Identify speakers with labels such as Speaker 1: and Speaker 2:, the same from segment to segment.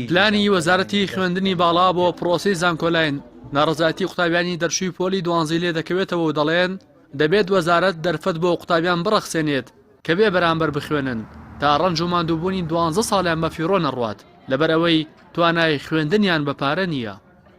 Speaker 1: پلانی
Speaker 2: وەزارەتی خوێندنی باڵا بۆ پڕۆسەی زانکۆلاین، ناڕەزایەتی قوتابیانی دەرچووی پۆلی دوانزەی لێ دەکەوێتەوە و دەڵێن، دەبێت وەزارەت دەرفەت بۆ قوتابیان بڕەخسێنێت کە بێ بەرامبەر بخوێنن تا ڕەنج و ماندووبوونی دوانزە ساڵیان بەفیڕۆ نەڕوات لەبەرئەوەی توانای خوێندنیان بە پارە نییە.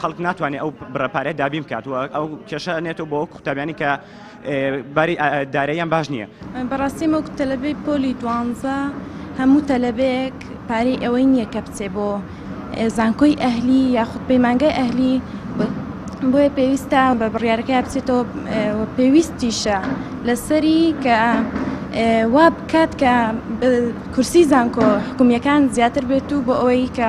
Speaker 3: خەڵک ناتوانێت ئەو بڕە پارەیە دابین بکات و ئەو کێشە ئەنێتەوە بۆ ئەو قوتابیانی کە باری داراییان باش نییە. بەڕاستی وەک
Speaker 4: تەلەبەی پۆلی دوانزە هەموو تەلەبەیەک پارەی ئەوەی نییە کە بچێ بۆ زانکۆی ئەهلی یاخود پەیمانگای ئەهلی بۆیە پێویستە بە بڕیارەکە بچێتەوە پێویستیشە لەسەری کە وا بکات کە کورسی زانکۆ حکومیەکان زیاتر بێت و بۆ ئەوەی کە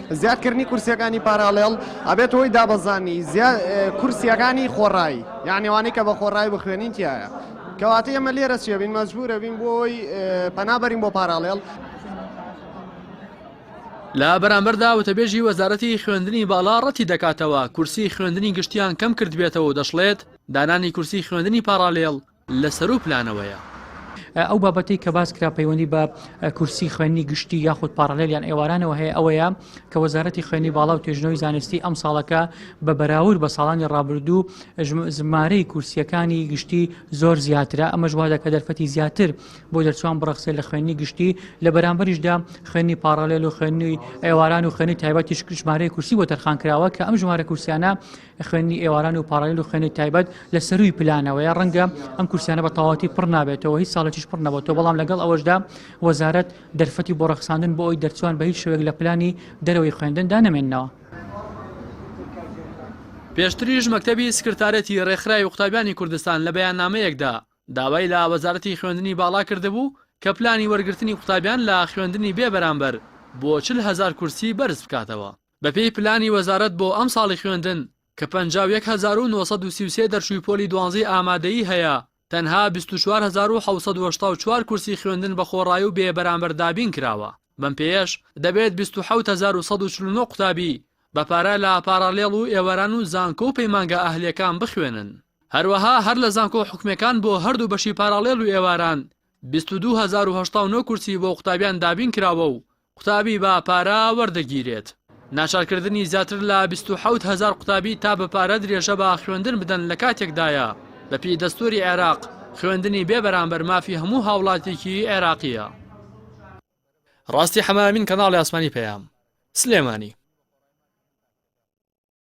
Speaker 5: زیادکردنی کورسیەکانی پاراڵێڵ ئەبێتە هۆی دابەزانی کورسیەکانی خۆڕایی یان ئەوانەی کە بە خۆڕایی بخوێنین تایە کەواتە ئێمە لێرە چێ بین مەجبورە بین بۆی پەنابەرین بۆ پاراڵێڵ
Speaker 2: لە بەرامبەردا وتەبێژی وەزارەتی خوێندنی باڵا ڕەتی دەکاتەوە کورسی خوێندنی گشتیان کەم کردبێتەوە و دەشڵێت دانانی کورسی خوێندنی پاراڵێڵ لە سەرو پلانەوەیە. ئەو
Speaker 6: بابەتەی کە باس کرا پەیوەندی بە کورسی خوێندنی گشتی یاخود پاڕالێل یان ئێوارانەوە هەیە ئەوەیە کە وەزارەتی خوێندنی باڵا و توێژینەوەی زانستی ئەمساڵەکە بە بەراورد بە ساڵانی ڕابردوو ژمارەی کورسییەکانی گشتی زۆر زیاترە ئەمەش وا دەکات دەرفەتی زیاتر بۆ دەرچووان بڕەخسێت لە خوێندنی گشتی لە بەرامبەریشدا خوێندنی پاڕالێل و خوێندنی ئێواران و خوێندنی تایبەتیش ژمارەی کورسی بۆ تەرخان کراوە کە ئەم ژمارە کورسیانە خوێندنی ئێواران و پاڕالیل و خوێندنی تایبەت لە سەرووی پلانەوەیە ڕەنگە ئەم کورسیانە بە تەواتی پڕ نابێتەوە هیچ ساڵێکیش پڕ نەبێتەوە بەڵام لەگەڵ ئەوەشدا وەزارەت دەرفەتی بۆ ڕەخساندن بۆ ئەوی دەرچوان بە هیچ شوێک لە پلانی دەرەوەی خوێندندا نەمێننەوە.
Speaker 2: پێشتریش مەکتەبی سکرتارێتی ڕێکخراوی قوتابیانی کوردستان لە بەیاننامەیەکدا داوای لە وەزارەتی خوێندنی باڵا کردبوو کە پلانی وەرگرتنی قوتابیان لە خوێندنی بێ بەرامبەر بۆ چل هەزار کورسی بەرز بکاتەوە. بەپێی پلانی وەزارەت بۆ ئەمساڵی خوێندن کە پەنجا و یەک هەزار و نۆ سەد و سی و سێ دەرچووی پۆلی دوانزەی ئامادەیی هەیە، تەنها بیست و چوار هەزار و حەوت سەد و هەشتا و چوار کورسی خوێندن بە خۆڕایی و بێ بەرامبەر دابین کراوە، بەم پێیەش دەبێت بیست و حەوت هەزار و سەد و چل و نۆ قوتابی بە پارە لە پاڕاڵێڵ و ئێواران و زانکۆ و پەیمانگا ئەهلییەکان بخوێنن. هەروەها هەر لە زانکۆ حکومییەکان بۆ هەردوو بەشی پاڕاڵێڵ و ئێواران بیست و دوو هەزار و هەشتا و نۆ کورسی بۆ قوتابیان دابین کراوە و قوتابی بە پارە وەردەگیرێت. ناچارکردنی زیاتر لە بیست و حەوت هەزار قوتابی تا بە پارە درێژە بە خوێندن بدەن لە کاتێکدایە بە پێی دەستووری عێراق خوێندنی بێ بەرامبەر مافی هەموو هاوڵاتیکی عێراقییە. ڕاستی حەمە ئەمین کەناڵی ئاسمانی پەیام. سلێمانی.